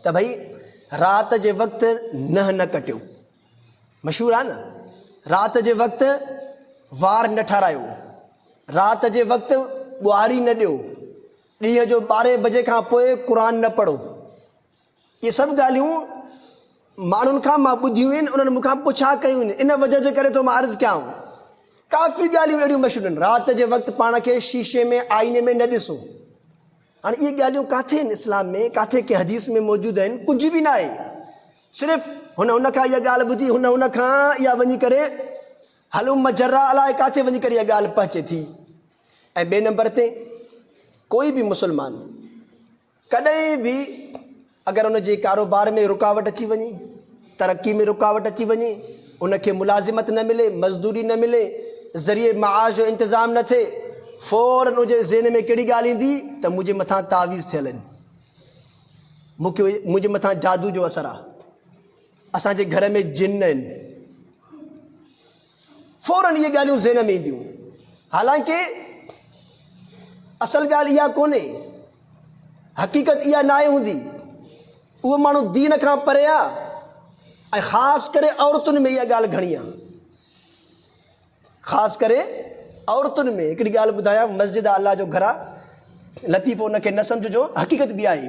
ته ڀئي رات جي وقت ننهن نه ڪٽيو، مشهور آهي نه، رات جي وقت وار نه ٺارايو، رات جي وقت ٻوهاري نه ڏيو، ڏينهن جو ٻارهين بجي کان پوء قرآن نه پڙهو. اهي سڀ ڳالهيون ماڻهن کان مان ٻڌيون آهن، انهن مون کان پڇا ڪيون آهن، ان وجه جي ڪري ٿو مان عرض ڪيانو. ڪافي ڳالهيون اهڙيون مشهور آهن. رات جي وقت پاڻ کي شيشي ۾ آئيني ۾ نه ڏسو. هاڻي اهي ڳالهيون ڪاٿي هن اسلام ۾ ڪاٿي ڪنهن حديث ۾ موجود آهن ڪجهه به ناهي صرف هن هن کان اها ڳالهه ٻڌي هن هن کان اها وڃي ڪري هلوم مجرا الاء ڪاٿي وڃي ڪري اها ڳالهه پهچي ٿي ۽ ٻئي نمبر تي ڪوئي به مسلمان ڪڏهن به اگر ان جي ڪاروبار ۾ رڪاوٽ اچي وڃي، ترقي ۾ رڪاوٽ اچي وڃي، ان کي ملازمت نه ملي، مزدوري نه ملي، ذريعي معاش جو انتظام نه ٿئي، فورن ان جي ذهن ۾ ڪهڙي ڳالهه ايندي ته منهنجي مٿان تعويذ ٿيل آهن، مون کي منهنجي مٿان جادو جو اثر آهي، اسان جي گهر ۾ جن آهن، فورن اهي ڳالهيون ذهن ۾ اينديون، حالانڪه اصل ڳالهه اها ڪونهي. حقيقت اها ناهي هوندي. اهي ماڻهو دين کان پري آهي ۽ خاص ڪري عورتن ۾ اها ڳالهه گهڻي آهي. خاص ڪري عورتن ۾ هڪڙي ڳالهه ٻڌايان مسجد آهي الله جو گهر آهي لطيفو ان کي نه سمجهجو حقيقت به آهي.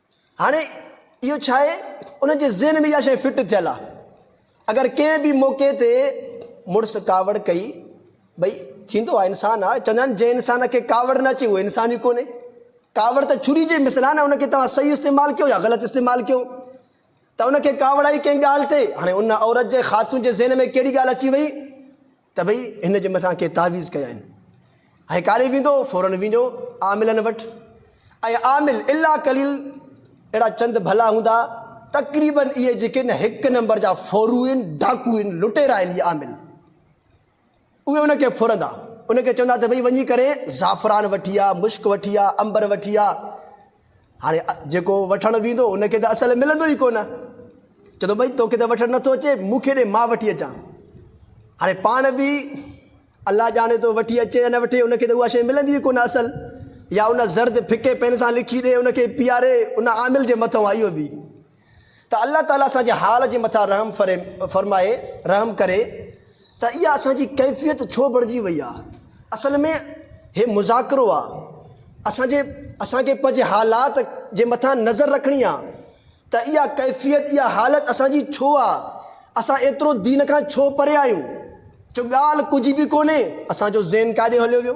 هاڻي اهو ڇا آهي؟ ان جي ذهن ۾ اها شيء فٽ ٿيل آهي. اگر ڪنهن به موقعي تي مڙس ڪاوڙ ڪئي، ڀئي ٿيندو آهي، انسان آهي، چوندا آهن جنهن انسان کي ڪاوڙ نه اچي اهو انسان ئي ڪونهي. ڪاوڙ ته ڇري جي مثل آهي نه ان کي توهان صحيح استعمال ڪيو يا غلط استعمال ڪيو ته ان کي ڪاوڙ آئي ڪنهن ڳالهه تي. هاڻي ان عورت جي خاتون جي ذهن ۾ ڪهڙي ڳالهه اچي وئي؟ ته ڀئي هن جي مٿان ڪي تعويذ ڪيائين. هيء ڪاڏي ويندو؟ فورن وڃو عاملن وٽ ۽ عامل الا قليل اهڙا چند ڀلا هوندا، تقريباً اهي جيڪي نه هڪ نمبر جا ڦورهوئين، ڊاڪوئين، لٽيرا آهن اهي عامل. اهي ان کي ڦرندا، ان کي چوندا ته ڀئي وڃي ڪري زعفران وٺي آ، مشڪ وٺي آ، عنبر وٺي آ. هاڻي جيڪو وٺڻ ويندو ان کي ته اصل ملندو ئي ڪونه. چئي ٿو ڀئي توکي ته وٺڻ نٿو اچي مون کي ڏي مان وٺي اچان. هاڻي پاڻ به الله ڄاڻي ٿو وٺي اچي يا نه وٺي ان کي ته اها شيء ملندي ئي ڪونه اصل يا ان زرد ڦڪي پين سان لکي ڏي ان کي پياري ان عامل جي مٿئون آهي اهو به. ته الله تعالي اسان جي حال جي مٿان رحم فرمائي، رحم ڪري، ته اها اسان جي ڪيفيت ڇو بڻجي وئي آ؟ اصل ۾ هي مذاڪرو آ. اسان جي اسان کي پنهنجي حالات جي مٿان نظر رکڻي آ ته اها ڪيفيت، اها حالت اسان جي ڇو آ؟ اسان ايترو دين کان ڇو پري آهيون جو ڳالهه ڪجهه به ڪونهي، اسان جو ذهن ڪاڏي هليو ويو؟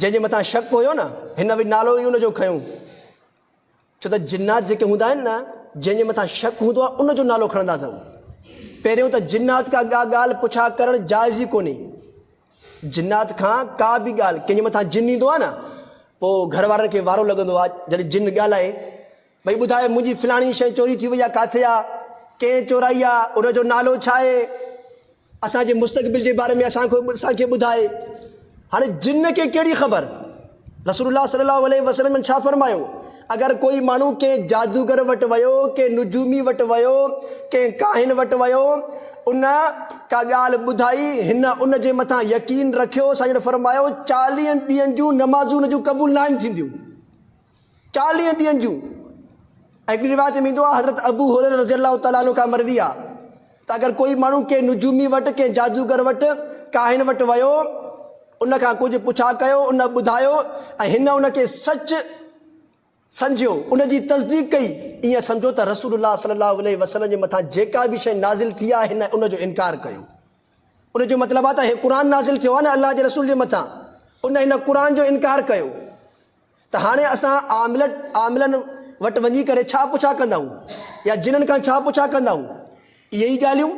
جنهن جي مٿان شڪ هيو نه، هن به نالو ئي ان جو کنيو. ڇو ته جنات جيڪي هوندا آهن نه، جنهن جي مٿان شڪ هوندو آهي، ان جو نالو کڻندا اٿن. پهريون ته جنات کان ڪا ڳالهه پڇا ڪرڻ جائز ئي ڪونهي. جنات کان ڪا به ڳالهه، ڪنهن جي مٿان جن ايندو آهي نه، پوء گهر وارن کي وارو لڳندو آهي، جڏهن جن ڳالهائي، ڀئي ٻڌاء منهنجي فلاڻي شيء چوري ٿي وئي آهي، ڪاٿي آهي؟ ڪنهن چورائي آهي؟ ان جو نالو ڇا آهي؟ اسان جي مستقبل جي باري ۾ اسان کي اسان کي ٻڌائي هاڻي جن کي ڪهڙي خبر رسول الله صلي الله عليه وسلم ڇا فرمايو اگر ڪوئي ماڻهو ڪنهن جادوگر وٽ ويو ڪنهن نجومي وٽ ويو ڪنهن ڪاهن وٽ ويو ان ڪا ڳالهه ٻڌائي هن ان جي مٿان يقين رکيو سائين جن فرمايو چاليهن ڏينهن جون نمازون ان جون قبول ناهن ٿينديون چاليهن ڏينهن جون هڪڙي روايت ۾ ايندو آهي حضرت ابو هريره رضي الله تعالٰي عنه کان مروي آهي ته اگر ڪوئي ماڻهو ڪنهن نجومي وٽ ڪنهن جادوگر وٽ ڪاهن وٽ ويو ان کان ڪجهه پڇا ڪيو ان ٻڌايو ۽ هن ان کي سچ سمجهيو ان جي تصديق ڪئي ائين سمجهو ته رسول الله صلي الله عليه وسلم جي مٿان جيڪا به شيء نازل ٿي آهي هن ان جو انڪار ڪيو ان جو مطلب آهي ته هي قرآن نازل ٿيو آهي نه الله جي رسول جي مٿان ان هن قرآن جو انڪار ڪيو ته هاڻي اسان عاملن عاملن وٽ وڃي ڪري ڇا پڇا ڪندائون يا جنن کان ڇا پڇا ڪندائون اهي ئي ڳالهيون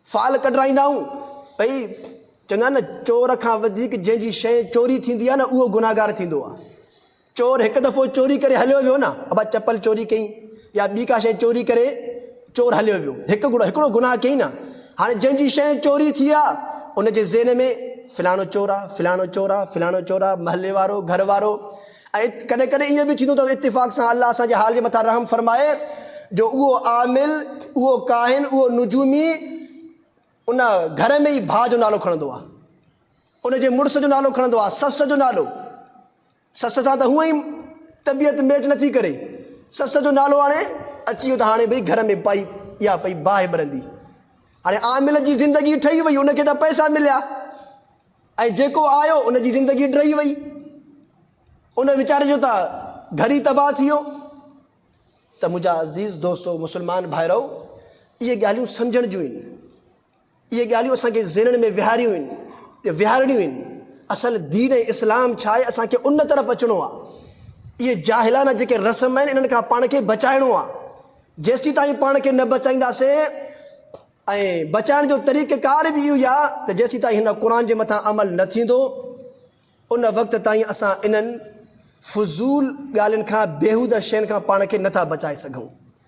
فال ڪڍرائيندائون ڀئي چڱا نه چور کان وڌيڪ جنهن جي شيء چوري ٿيندي آهي نه اهو گنهگار ٿيندو آهي. چور هڪ دفعو چوري ڪري هليو ويو نه ابا چپل چوري ڪئي يا ٻي ڪا شيء چوري ڪري چور هليو ويو هڪ گهڙو هڪڙو گناهه ڪئي نه هاڻي جنهن جي شيء چوري ٿي آ ان جي ذهن ۾ فلاڻو چور آ فلاڻو چور آ فلاڻو چور آ محلي وارو گهر وارو ۽ ڪڏهن ڪڏهن ايئن به ٿيندو ته اتفاق سان الله اسان جي حال جي مٿان رحم فرمائي جو اهو عامل اهو ڪاهن اهو نجومي ان گهر ۾ ئي ڀاء جو نالو کڻندو آ. ان جي مڙس جو نالو کڻندو آ. سس جو نالو. سس سان ته هونئن ئي طبيعت ميچ نه ٿي ڪري. سس جو نالو آڻي اچي ويو ته هاڻي ڀئي گهر ۾ پائي اها پئي باهه ٻرندي. هاڻي عامل جي زندگي ڊهي وئي. ان کي ته پئسا مليا ۽ جيڪو آيو ان جي زندگي ڊهي وئي. ان ويچاري جو ته گهر ئي تباهه ٿي ويو. ته منهنجا عزيز دوستو مسلمان ڀائرؤ اهي ڳالهيون سمجهڻ جون آهن اهي ڳالهيون اسان کي ذهنن ۾ ويهاريون آهن ويهارڻيون آهن اصل دين ۽ اسلام ڇا آهي اسان کي ان طرف اچڻو آهي اهي جاهلانه جيڪي رسم آهن انهن کان پاڻ کي بچائڻو آهي جيسي تائين پاڻ کي نه بچائينداسين ۽ بچائڻ جو طريقه ڪار به اهو آهي ته جيسي تائين هن قرآن جي مٿان عمل نه ٿيندو ان وقت تائين اسان انهن فضول ڳالهين کان، بيهوده شين کان پاڻ کي نٿا بچائي سگهون.